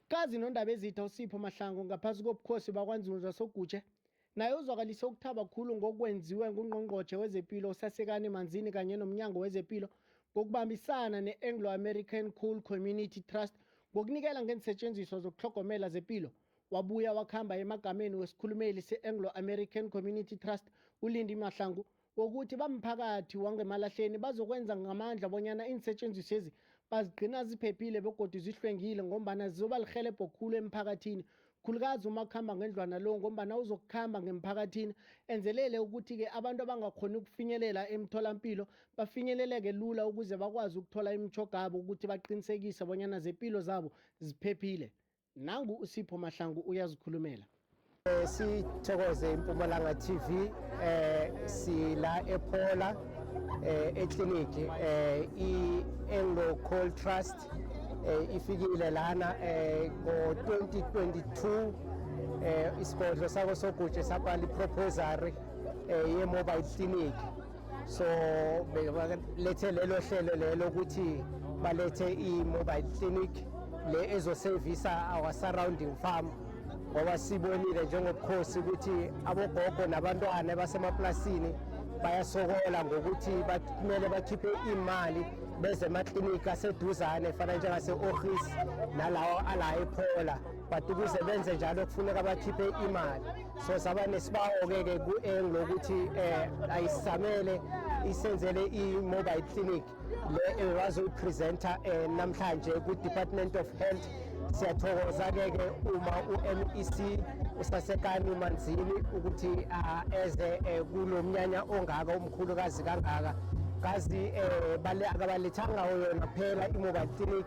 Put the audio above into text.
Kazi nondaba ezitha uSipho Mahlangu ngaphasi kobukhosi bakwanzulu zasoGutshe naye uzwakalise ukuthaba khulu ngokwenziwe ngungqongqotjhe wezepilo usasekani manzini kanye nomnyango wezepilo ngokubambisana ne-anglo-american cool community trust ngokunikela ngeensetshenziswa zokuhlogomela zepilo wabuya wakuhamba emagameni wesikhulumeli se-anglo-american community trust ulindi mahlangu wokuthi bamphakathi wangemalahleni bazokwenza ngamandla bonyana iinsetshenziswezi bazigcina ziphephile begodwa zihlwengile ngombana zizoba lihelebho khulu emphakathini khulukazi uma kuhamba ngendlwana lo ngombana uzokuhamba ngemphakathini enzelele ukuthi-ke abantu abangakhoni ukufinyelela emtholampilo bafinyeleleke lula ukuze bakwazi ukuthola imithogabo ukuthi baqinisekise bonyana zempilo zabo ziphephile nangu usipho mahlangu uyazikhulumela eh, sithokoze impumalanga tv eh sila ephola eh eclinic eh i-anglo coal trust eh ifikile lana eh ngo-2022 eh isigodlo sako sogutshe sakwali proposal eh ye-mobile clinic so belethe lelo hlelo lelo ukuthi balethe i-mobile clinic le ezosevisa our surrounding farm ngoba sibonile njengobukhosi ukuthi abogogo nabantwana basemaplasini bayasokola ngokuthi kumele bakhiphe imali beze emaklinika aseduzane fana njengase-ohis nalawo ala ephola but ukuze benze njalo kufuneka bakhiphe imali so saba nesibawo-ke ke ku-eng lokuthi um eh, ayisamele isenzele i-mobile clinic le ewazoyipresenta um eh, namhlanje ku-department of health siyathokoza-ke ke uma u-mec usasekani manzini ukuthi ah, eze eh, kulo mnyanya ongaka umkhulukazi kangaka kazi um akabalethanga yona kuphela i-mobile clinic